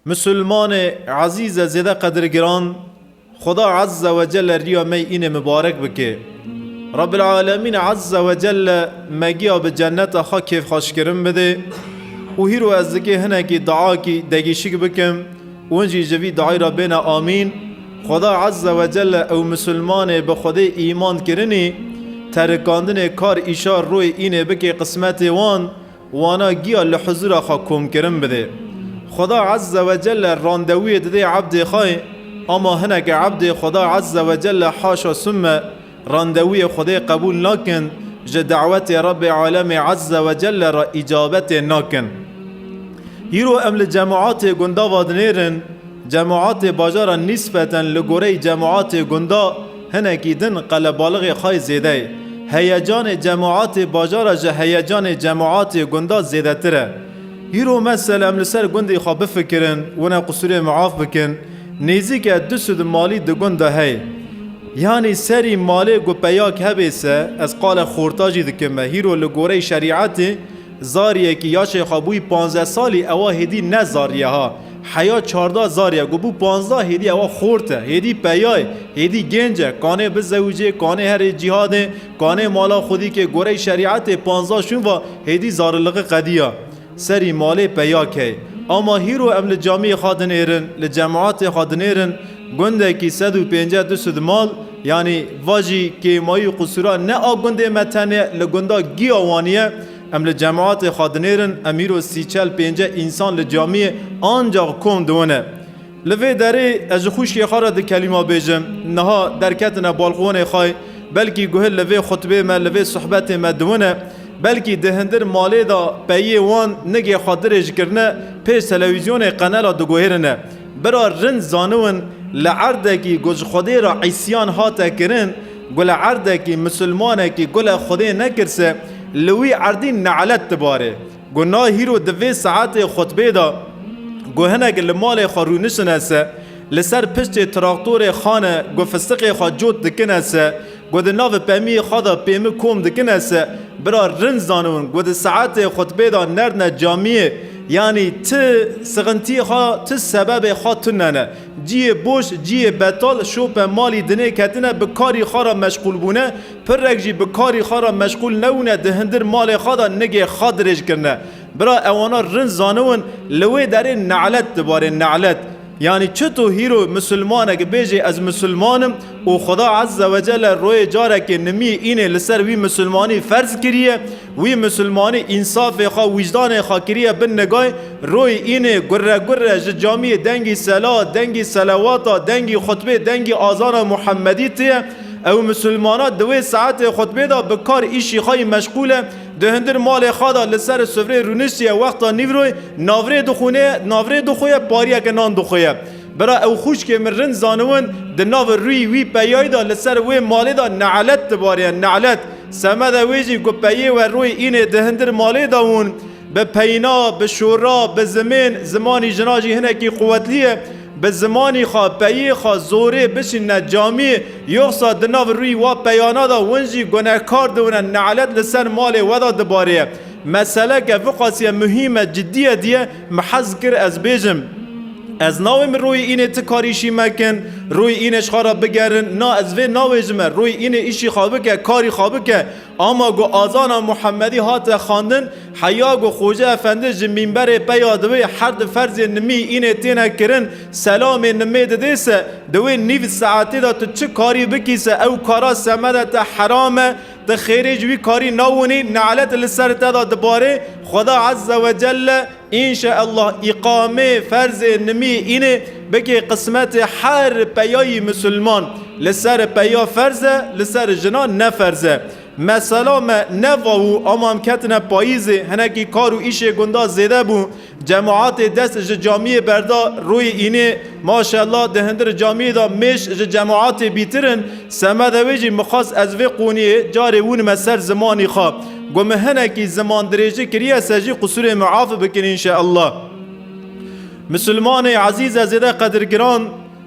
Musulmane ezîz e zêde qedirgiran, Xweda Ezze Wecelle riya me înê mibarek bike. Rabbil Alemîn Ezze Wecelle me giya bi cenneta xwe kêfxweşkirin bide û hîro ez dikê hinekî duakî degîşik bikim û hin jî ji vî duayî re bêne Amîn, Xweda Ezze Wecelle ew musulmanê bi Xwedê îman kirinî terikandinê kar îşar royê înê bikê qismetê wan Wana giya li huzûra xwe komkirin bidê. Xweda Ezze ve Celle randevûyê didê ebdê xwe, ama hineke ebdê Xweda Ezze ve Celle haşa sûmme randevûyê Xwedê qebûl nakin, ji dawetê Rebê Alemê Ezze ve Celle re îcabetê nakin. Îro em li cemaatê gundava dinêrin, cemaatê bajara nîsbeten li goreyî cemaatê gunda, Hinekî din qelebalixê xay zêde ye. Heyecanê cemaatê bajara ji heyecanê cemaatê gundan zêdetir e. Hîro mesel em li ser gundê xwe bifikirin, wina qusûrê miaf bikin. Nêzîke du sud malî di gund de heye. Yanî serî malê ku peyak hebê se, ez qale xorta jî dikim me, hîro li gorey şerîetê, Zaryekî ya şêxa bûyî panzdeh salî ewa hêdî ne zarye ha. Heya çarda zarye ku bû panzdeh hêdî ewa xort e. Hêdî peya ye. Hêdî gênc e. Kanê bizewicê, kanê herê cîhadê, kanê mala xwedî kê goreyê şerîetê panzdeh şûn va hêdî zariliqi qedîya. Serî malê peya key. Ama hîro em li camiyê xwe dinêrin, li cemaetê xwe dinêrin, gundekî sed û pênceh du sud mal, Yanî va jî kêmayî û qisûra ne a gundê me tenê li gunda Giya Wanî ye. Em li cematê xwe dinêrin, em îro sî çel pênceh însan li camiyê ancax kom diwin e. Li vê derê ez ji xwişkê xwe re di kelîma bêjim. Niha derketine balqonê xwe, belkî guhil li vê xutbê me, li vê suhbetê me diwin e. Belkî di hindir malê de peyê wan nigê xwe dirêj kirine, pêş telewîzyonê qenela diguhêrine. Bira rind zaniwin li erdekî ku ji Xwedê re îsyan hate kirin, ku li erdekî misilmanekî ku li Xwedê nekirse, li wî erdî ne'let dibarê. Ku na hîro di vê saetê xutbê de ku hinek li malê xwe rûnişine se, li ser piştê traktorê xane ku fisiqê xwe cot dikine se, Ku di navê pemiyê xwe de pêmi kom dikine se bira rind zanibûn ku di saetê xutbê de nerdine camiyê yanî ti sixintiyê xwe ti sebebê xwe tune ne. Ciyê boş, ciyê betal şope malî dinê ketine bi karî xwe re meşxûl bûne, pirrek jî bi karî xwe re meşxûl nebûne di hindir malê xwe de nigê xwe dirêj kirine. Bira ewana rind zanibûn li wê derê nelet di barê nelet. Yanî çito hîro misilmaneke bêjê ez misilman im û Xweda Ezze ve Celle royê carekê nimî înê li ser wî misilmanî ferz kiriye, wî misilmanî însafê xwe, wîjdanê xwe kiriye bin nigay, royê înê gurre gurre ji camiyê dengî sela, dengî selewata, dengî xutbê, dengî azana Muhemedî tê. Ew misilmana di wê saetê xutbê de bi kar îşî xwe yî meşqûl e. Di hundir malê xwe de li ser sufreyê rûniştiye, wexta nîvroyê navrê dixwîne, navrê dixwe, pariyeke nan dixwe. Bira ew xwişkê min rind zaniwin, di nav rûyî wî peyayî de li ser wê malê de nelet dibarîye, nelet. Semeda wê jî ku peyê we rûyî înê di hundir malê de hûn, bi peyna, bi şora, bi zimên, zimanî jina jî hinekî quwetlî ye, Bi zimanî xwe, peyê xwe, zorê bişînine camî, yoxsa di nav rûyî wa peyana de win jî gunehkar diwine, ne'let li ser malê we de dibarê. Meseleke viqasîye muhîm e, cidî ye diye, min hez kir ez bêjim. Ez nawêm rûyî înê ti karî îşî mekin, rûyî înê ji xwe re bigerin, na ez vê nawêjime, rûyî înê îşî xwe bike, karî xwe bike, Ama ku azana Muhemedî hate xandin, heya ku Xoca Efendi ji mîmberê peya divê her di ferzên nimî înê têne kirin, selamê nimê didê se, di wê nîv saetê de tu çi karî bikî se ew kara semede te heram e, tu xêrê ji wî karî nawinî, nelet li ser te de dibarê, Xweda Ezze Wecelle, Înşeellah îqamê ferzê nimî înê bikê qismetê her peyayî misilman. Li ser peya ferz e, li ser jinan ne ferz e. Mesela me ne vawû amam ketine payîzê hinekî kar û îşê gundan zêde bû. Cemaatê dest ji camiyê berda rûyê înê maşellah di hindir camiyê de mêş ji cemaatê bîtir in. Semeda wê jî mixwest ez vê qûniyê carê wûnime ser zimanî xwe. Got min hinekî zimandirêji kiriye se jî qusûrê min af bikin înşeallah. Misilmanê ezîz e zêde qedirgiran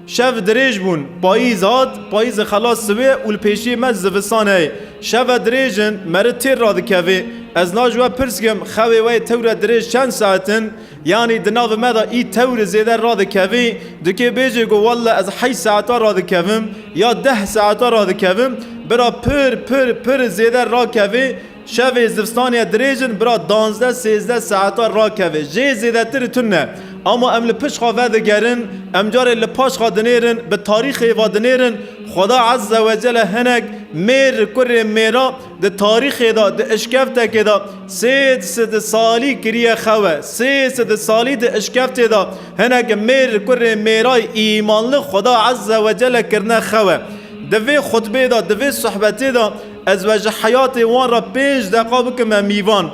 şev dirêj bûn. Payîz hat, payîzê xelas siwê û li pêşiyê me zivistan heye. Şev ve dirêj in, meri têr radikeve. Ez naji we pirs kim, xewê we yê tewre dirêj çend saet in? Yanî di navê me de î tewrê zêde radikevî, dikê bêjê ku walla ez heşt saetan radikevim ya deh saetan radikevim, bira pir pir pir zêde rakevê, şevê zivstaniye dirêj in bira danzdeh sêzdeh saetan rakevê jê zêdetir tune. Ama em li pişt xwe vedigerin, em carê li paş xwe dinêrin, bi tarîxê ve dinêrin, Xweda Ezzewecelle hinek mêr kurê mêra, Di tarîxê de, di eşkeftekê de sê sed salî kiriye xewe. Sê sed salî di eşkeftê de hinek mêr li kurê mêray îmanli Xweda Ezze we Celle kirine xewe. Di vê xutbê de, di vê sohbetê de ez ve ji heyatê wan re pênc deqa bikime mîvan.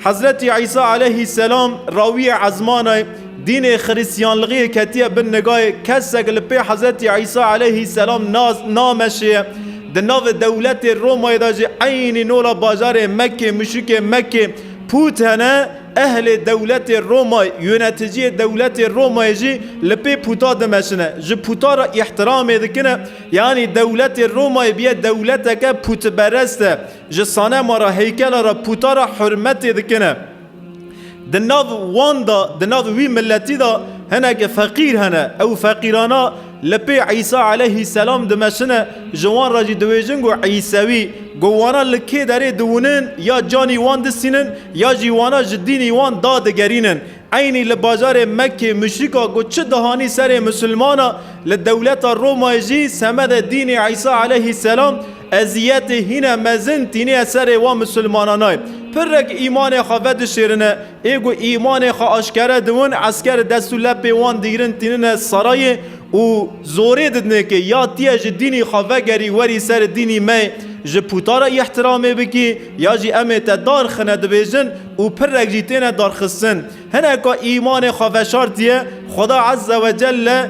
Hezretî Îsa eleyhî selam rawîye ezmana ye, dînê xirîsyanlgîyê ketiye bin nigayê, kesek li pê Hezretî Îsa eleyhî selam nas nameşiye. Di navê dewletê Romayê de jî eynî nola bajarê Mekkê, muşikê Mekkê, pût hene, ehlê dewletê Romayê, yûneticîyê dewletê Romayê jî li pê pûta dimeşine, ji pûta re îhtiramê dikine, yanî dewletê Romayê biye dewleteke pûtperest e. Ji sanema re heykela re pûta re hurmetê dikine. Di nav wan de, di nav wî miletî de hinek feqîr hene. Ew feqîrana li pê Îsa eleyhî selam dimeşine, ji wan re jî diwêjin ku Îsewî. Ku wana li kê derê diwinin ya canî wan disînin ya jî wana ji dînî wan da digerînin. Eynî li bajarê Mekkê muşrîka ku çi dihanî serê misilmana li dewleta Romayê jî semedê dînê Îsa eleyhî selam, Eziyetê hîne mezin tînîye serê wan misilmananay. Pirrek îmanê xwe vedişêrine, ê ku îmanê xwe aşkere diwin, esker dest û lepê wan digrin tînine serayê û zorê didine ke ya tîye ji dînî xwe vegerî werî ser dînî me ji pûta re îhtiramê bikî ya jî em ê te dar xine dibêjin û pirrek jî têne darxistin. Hineka îmanê xwe veşartîye, Xweda Ezzewecelle,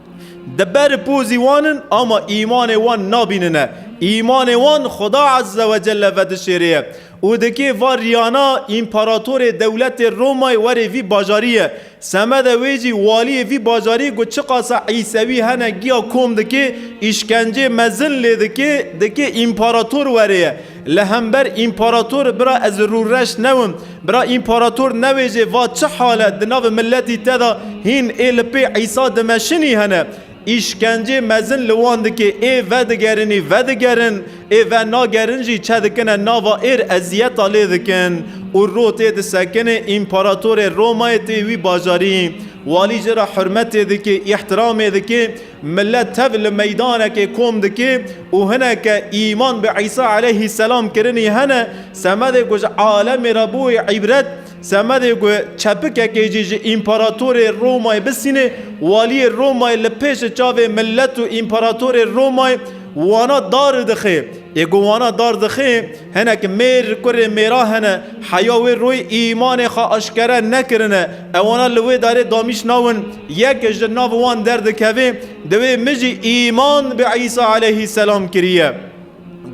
Di ber pozî wan in ama îmanê wan nabînine. Îmanê wan Xweda Ezze ve Celle ve dişêrêye û dikê va riyana împaratorê dewletê Romayê werê vî bajarî ye. Semede wê jî waliyê vî bajarî ku çiqasa îsewî hene giya kom dikê, îşkencê mezin lê dikê, dikê împarator werêye. Li hember împarator bira ez rûreş newim. Bira împarator newêjê va çi hal e di nav miletî te de hîn ê li pê Îsa dimeşinî hene. Îşkencê mezin li wan dikê ê vedigerînî vedigerin ê venagerin jî çedikine nava êr eziyeta lê dikin û ro tê disekinê împaratorê Romayê tê wî bajarî walî ji ra hurmetê dikê îhtiramê dikê Milet tev li meydanekê kom dike û hineke îman bi Îsa eleyhî selam kirinî hene, semedê ku ji alemê re bûye îbret, semedê ku çepikekê jî ji împaratorê Romayê bisîne, waliyê Romayê li pêşê çavê milet û împaratorê Romayê wana dar dixe. Ê ku wana dar dixe, hinek mêr kurê mêra hene, heya wê royê îmanê xwe aşkere nekirine, Ewana li wê darê damîş nawin, yek ji nav wan derdikeve, divê min jî îman bi Îsa eleyhî selam kiriye.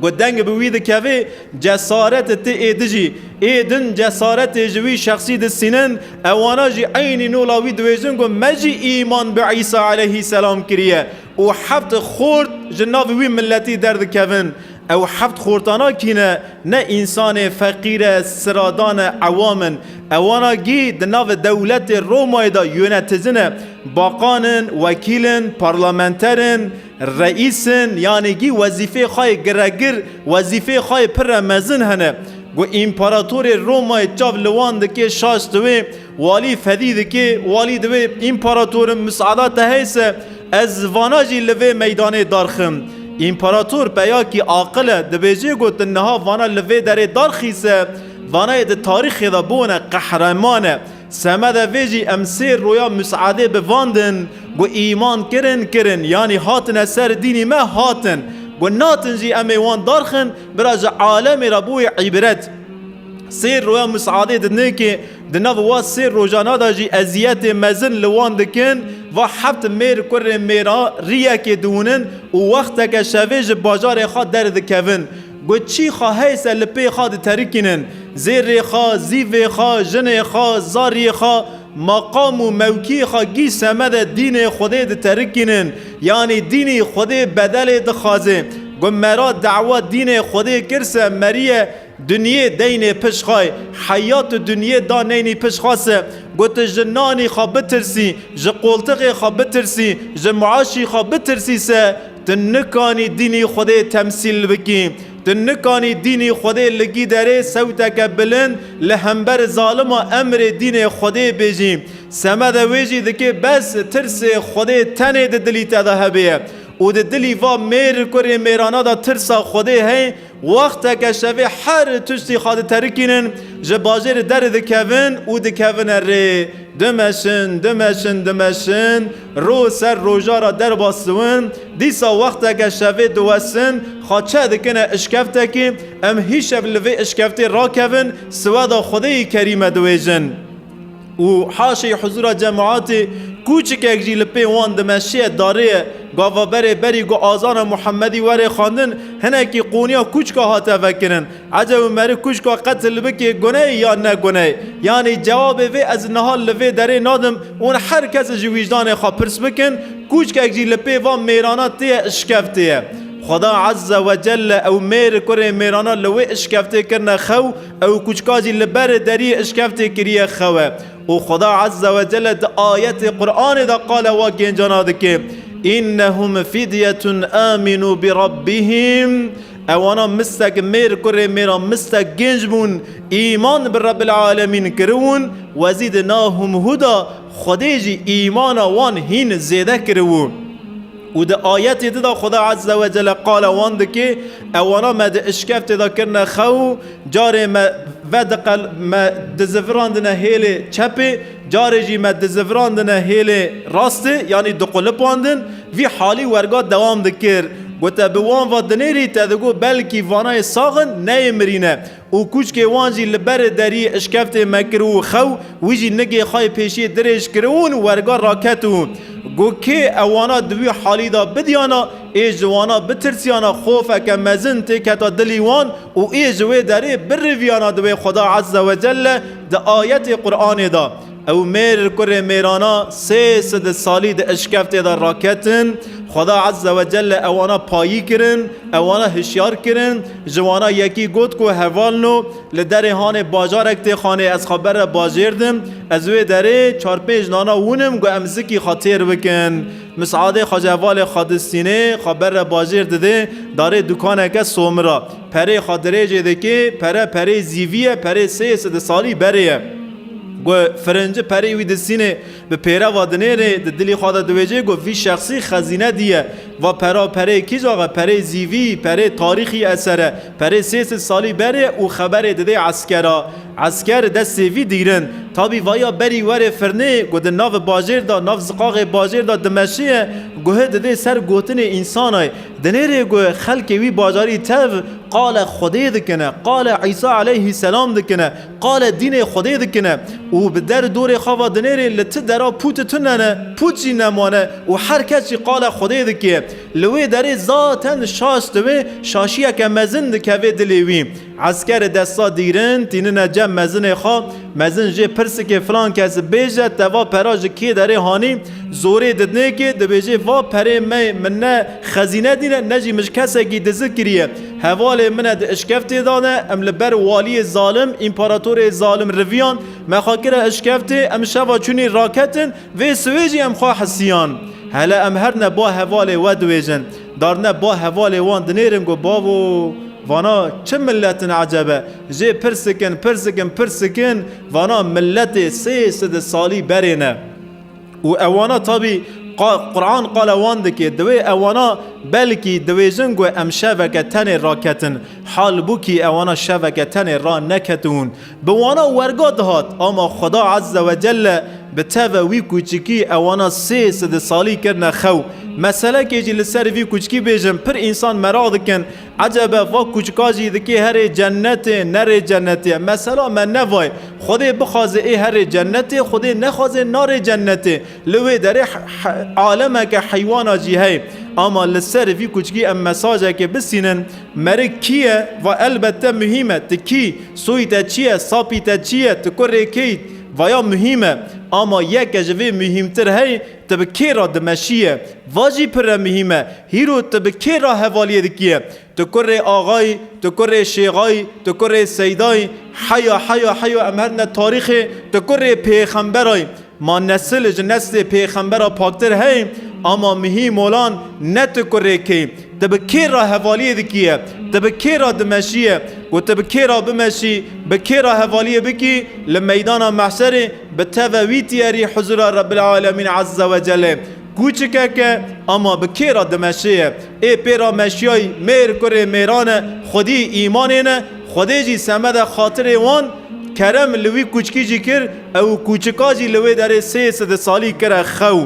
Ku deng bi wî dikeve, cesaret ti êdijî. Ê din cesaretê ji wî şexsî disînin, ewana jî eynî nola wî diwêjin ku me jî îman bi Îsa eleyhî selam kiriye û heft xort ji nav wî miletî derdikevin. Ew heft xortana kî ne, ne însan e, feqîr e, siradan e, ewam in. Ewan a gî di navê dewletê Romayê de yonetizin e. Baqan in, wekîl in, parlamenter in, reîs in, yanê gî wezîfeyê xwe yê giregir, wezîfeyê xwe yê pirre mezin hene. Ku împaratorê Romayê çav li wan dike şaş di wê, Walî fedî dike, walî divê împaratorim miseada te hey se ez vana jî li vê meydanê darxim. Împarator peyakî aqil e, dibêje ku tu niha vana li vê derê darxî se, vanayê di tarîxê de bûne qehreman e. Semedê vê jî em sêr roya miseadê bi van din ku îman kirin, kirin yanî hatine ser dînî me hatin. Ku natin jî em ê wan darxin, bira ji alemê re bûye îbret. Sêr roya miseadê di nêkê Di nav va sê rojana de jî eziyetê mezin li wan dikin. Va heft mêr kurê mêra riyekê diwinin û wexteke şevê ji bajarê xwe derdikevin. Got çî xwe heye ser li pê xwe diterikînin. Zêrê xwe, zîvê xwe, jinê xwe, zariyê xwe, meqam û mewkiyê xwe gîj semede dînê Xwedê diterikînin. Yanî dînî Xwedê bedelê dixwaze. Got mera dewa dînê Xwedê kir se meriye. Dunyê deynê pişt xwe, heya tu dunyê da neynî pişt xwe se, ku tu ji nanî xwe bitirsî, ji qoltixê xwe bitirsî, ji miaşî xwe bitirsî se, tu nikanî dînî Xwedê temsîl bikî. Tu nikanî dînî Xwedê li gîderê sewteke bilind li hember zalima emrê dînê Xwedê bêjî. Semede wê jî dikê bes tirsê Xwedê tenê di dilî te de hebêye. Û di dilî va mêr kurê mêrana de tirsa Xwedê hey, Wexteke şevê her tiştî xwe diterikînin, ji bajêrê derê dikevin û dikevine rê. Dimeşin, dimeşin, dimeşin, roj ser roja re derbas diwin. Dîsa wexteke şevê diwesin, xwe çeh dikine işkeftekî, em hîşev li vê işkeftê rakevin, siweda Xwedêyî kerîme diwêjin. û haşê huzûra cemaetê kûçikek jî li pê wan di meşiyê darê ye. Gava berê berî ku azana Muhemedî were xwendin, hinekî qûniya kûçika hate vekirin. Ece û meri kûçika qetil bikê guneyê yan ne guneyê? Yanî cewabê vê ez niha li vê derê nadim û hûn her kes ji wîjdanê xwe pirs bikin, kûçikek jî li pê van mêrana tê ye işkevtê ye. Xweda Ezze wecelle ew mêr kurê mêrana li wê işkevtê kirine xew, Ew kûçka jî li berê deriyê işkeftê kiriye xewe û Xweda Ezze we Celle di ayetê Quranê de qala wa gêncana dike, Înnehum fidyetun âminû bi Rabbihim, Ewana mistek mêr kurê mêra mistek gênc bûn, îman bi Rebbil Alemîn kiriwûn, we zî di nahum huda Xwedê jî îmana wan hîn zêde kiriwû. Û di ayetê di de Xweda Ezze we Celle qala wan dike, Ewana me di işkeftê de kirine xew, carê me vediqel me dizivirandine hêlê çepê, carê jî me dizivirandine hêlê rastê, yanî diqulipandin, vî halî werga dewam dikir. Gote bi wan ve dinêrî te digot belkî vanayê sax in, neyê mirîne. Û kûçkê wan jî li berê derî işkeftê me kir û xew, wî jî nigê xwe yê pêşiyê dirêj kir û li werga raket û got, Kê ew wana di wî halî de bidiyana, ê ji wana bitirsiyana xofeke mezin tê keta dilî wan û ê ji wê derê biriviyana di wê Xweda Ezzewecelle di ayetê Quranê de. Ew mêr li kurê mêrana sê sed salî di eşkeftê de raketin, Xweda Ezze ve Celle ewana payî kirin, ewana hişyar kirin, ji wana yekî got ku heval no li derê hanê bajarek tê xanê ez xwe bere bajêr dim, ez wê derê çar pênc nana wûnim ku em zikî xwe têr bikin. Misadê xwe ji hevalê xwe distînê, xwe bere bajêr didê darê dukaneke somira, perê xwe dirêjê dikê, pere perê zîvî ye, perê sê sed salî berê ye. Ku firinci perî wî di sînê bi pêreva dinêrê di dilî xwe de diwêjê ku vî şexsî xezîne dîye. Va pera perê kîjax e, perê zîvî, perê tarîxî eser e. Perê sê sed salî berê û xeberê didê eskera. Esker di destê vî dîgrin. Tabî vaya berî werê firnê ku di navi bajêr de, nav ziqaxê bajêr de dimeşê ye, guhi didê ser gotinê însanay. Dinêrê ku xelkê wî bajarî tev qale Xwedê dikine, qale Îsa eleyhî selam dikine, Qale dînê Xwedê dikine û bi der dorê xwe ve dinêrê li ti dera pûti tune ne, pût jî nemane û her kes jî qale Xwedê dike. Li wê derê zaten şaş dibe, şaşiyeke mezin dikeve dilê wî. Eskerê desta dîrin tînine cem mezinê xwe, mezin jê pirsikê filan kes bêje te va pera ji kê derê hanî, zorê didnêkê dibêje va perê me min ne xezîne dîne ne jî mij kesekî dizik kiriye. Hevalê min e di işkeftê de ne, em li ber waliyê zalim, împaratorê zalim riviyan, me xwe kire işkeftê, em şeva çûnî raketin, vê siwê jî em xwe hisiyan. Hele em her ne ba hevalê we diwêjin, dar ne ba hevalê wan dinêrin ku bavo, vana çi milet in eceb e, jê pir sikin, pir sikin, pir sikin, vana miletê sê side salî berê ne. û ewana tabî Quran qala wan dike, divê ewana belkî dibêjin ku em şeveke tenê raketin, halbûkî ewana şeveke tenê raneketibûn. Bi wana werga dihat, ama Xweda Ezze ve Celle bi teve wî kûçikî ewana sê sed salî kirine xew. Meselekê jî li ser vî kûçikî bêjim, pir însan meraq dikin, Ecebe va kûçika jî dikê herê cennetê nerê cennetê. Mesela me nevayê Xwedê bixwazê ê herê cennetê, Xwedê nexwazê narê cennetê. Li wê derê alemeke heywana jî heye. Ama li ser vî kûçikî em mesajekê bisînin, Merik kî ye? Va elbette muhîm e. Ti kî? Soyî te çi ye? Sapî te çi ye? Ti kurê kê yî? Vaya muhîm e. Ama yeke ji vê muhîmtir heye, Te bi kê re dimeşiye? Va jî pire mihîm e. Hîro te bi kê re hevaliyê dikiye? Tu kurê axa yî, tu kurê şêxa yî, tu kurê seyda yî. Heya heya heya em her ne tarîxê tu kurê pêxembera yî. Ma nesil ji neslê pêxembera paktir heye ama mihî molan ne tu kurê kê yî. Te bi kê re hevaliyê dikiye? Te bi kê re dimeşiye? Ku te bi kê re bimeşî, bi kê re hevaliyê bikî li meydana mehşerê, Bi teve wî tiyerî huzûra Rebbil Alemîn Ezze ve Celê ku çikek e, ama bi kê re dimeşiye? Ê pê re meşiyayî mêr kurê mêran e, xwedî îmanê ne, Xwedê jî semede xatirê wan kerem li wî kûçkî jî kir ew û kûçika jî li wê derê sê side salî kire xew.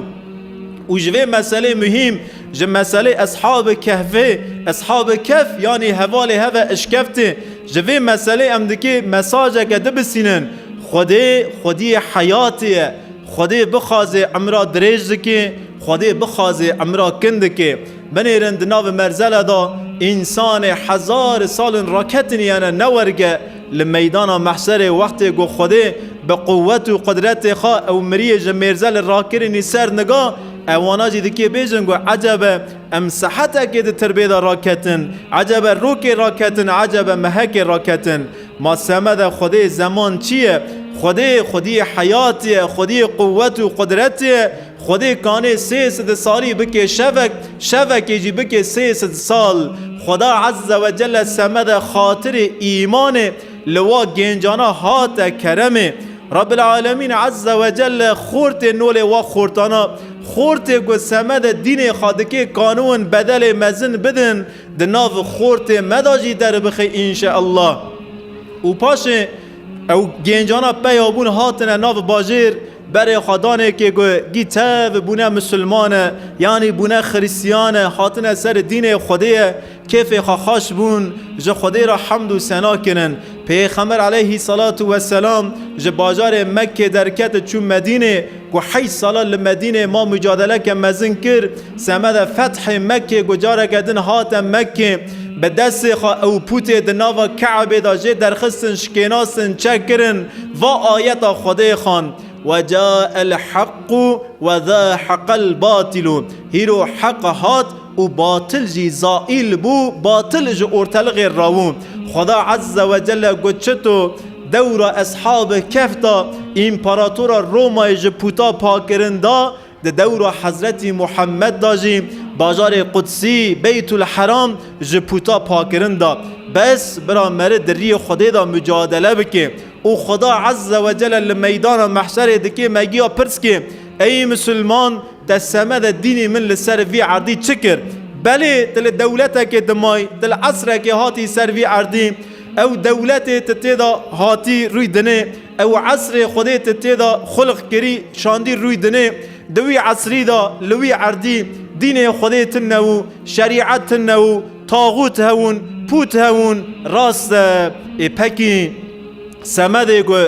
Û ji vê meselê muhîm, ji meselê Eshabi Kehfê, Eshabi Kehf yanî hevalê heve eşkeftê, Ji vê meselê em dikê mesajeke di bisînin, Xwedê, Xwediyê heyatê ye. Xwedê bixwazê emra dirêj dikê, Xwedê bixwazê emra kin dikê. Binêrin di navê merzele da însanê hezar salin raketiniyane ne werge li meydana mehşerê wextê ku Xwedê bi quwet û qudretê xwe ew miriyê ji mêrzelê rakirinî ser niga ewana jî dikê bêjin ku ecebe Em sehetekê di tirbê de raketin, ecebe rokê raketin, ecebe mehekê raketin. Ma semede xwediyê zeman çi ye? Xwedê, xwediyê heyatê ye, xwediyê quwet û qudretê ye. Xwedê kanê sê sed salî bikê şevek, şevekê jî bikê sê sed sal. Xweda Ezze ve Celle semede xatirê îmanê li wa gêncana hate keremê. Rabbîl Alemîn Ezze ve Celle xortê nolê wa xortana, xortê ku semedê dînê xwe dike kanuwin bedelê mezin bidin di nav xortê me de jî derbixe înşeallah. Û paşê ew gêncana peya bûn hatine nav bajêr berê xwe danekê ku gî tev bûne misilmane yanî bûne xirîsiyane hatine ser dînê xwedê ye Kêfê xwe xweş bûn, ji Xwedê re hemd û sena kirin. Pêxember eleyhî selatû we selam ji bajarê Mekkê derket û çû Medînê, ku heşt sala li Medînê ma mûcadeleke mezin kir, semeda fethê Mekkê ku careke din hate Mekkê, bi destê xwe ew pûtê di nava Keebê de jê derxistin, şikênastin, çek kirin, va ayeta Xwedê xwend, Wecael heqqû wezâheqel batîlû, hîro heq hat, û batil jî zaîl bû, batil ji orteliqê rawû. Xweda Ezze we Celle got çito dewra Eshabi Kehf de Împaratora Romayê ji puta pakkirin da, di dewra Hezretî Muhemmed de jî bajarê Qudsî, Beytul Heram, ji puta pakkirin da. Bes bira meri di riyê Xwedê de mucadele bike û Xweda Ezze we Celle li meydana mehşerê dike megiya pirs ke, Ey misilman! Te semedê dînî min li ser vî erdî çi kir? Belê tu li dewletekê dimayî, tu li esrekê hatî ser vî erdî, ew dewletê tu tê de hatî rûy dinê, ew esrê Xwedê tu tê de xulq kirî şandî rûy dinê, di wî esrî de li wî erdî dînê Xwedê tune wû, şerîet tune wû, taxût hewûn, pût hewûn. Rast e, ê pekî semedê ku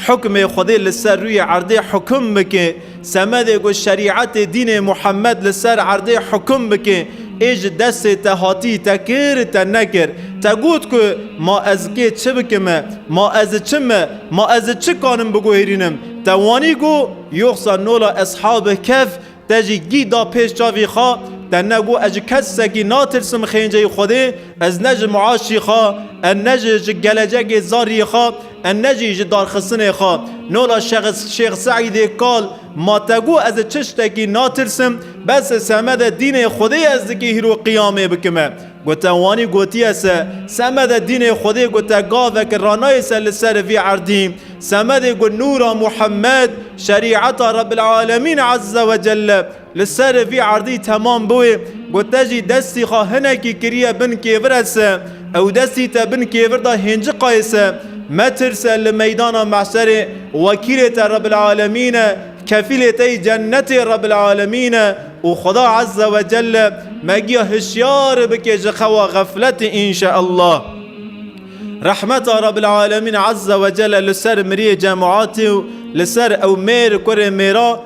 hukmê Xwedê li ser rûyê erdê hukum bike, Semedê ku şerîetê dînê Muhammed li ser erdê hukum bike, ê ji destê te hatî, te kir, te nekir. Te got ku ma ez kê çi bikim e, ma ez çi me, ma ez çi kanim biguhêrînim. Te wanî ku yoxsa nola Eshabî Kehf te jî gî da pêş çavî xwe, te ne got ez ji kesekî natirsim xênceyî Xwedê, ez ne ji miaşî xwe, ez ne ji ji gelecekê zarîyê xwe, Ennecî ji darxistinê xwe nola Şêx Seîdê kal ma te got ez li çi ştekî natirsim, bes li semede dînê Xwedê ez dikî hîr û qiyamê bikim e. Gote wanî gotiye se, semede dînê Xwedê gote gavek ranayê se li ser vî erdî. Semedê got nûra Muhemmed, şerîeta Rebbil Alemîn Ezze Wecelle Li ser vî erdî temam bûye, ku te jî destî xwe hinekî kiriye bin kêvir ez se, ew destî te bin kêvir da hênciqayê se. Metirse li meydana mehşerê wekîlê te Rebîlalemîn e, kefîlê te yî cennetê Rebîlalemîn e û Xweda Ezze Wecelle me giya hişyar bike ji xewa xefletê înşeellah. Rehmeta Rebîlalemîn Ezze Wecelle li ser miriyê cemaatê û li ser ew mêr kurê mêra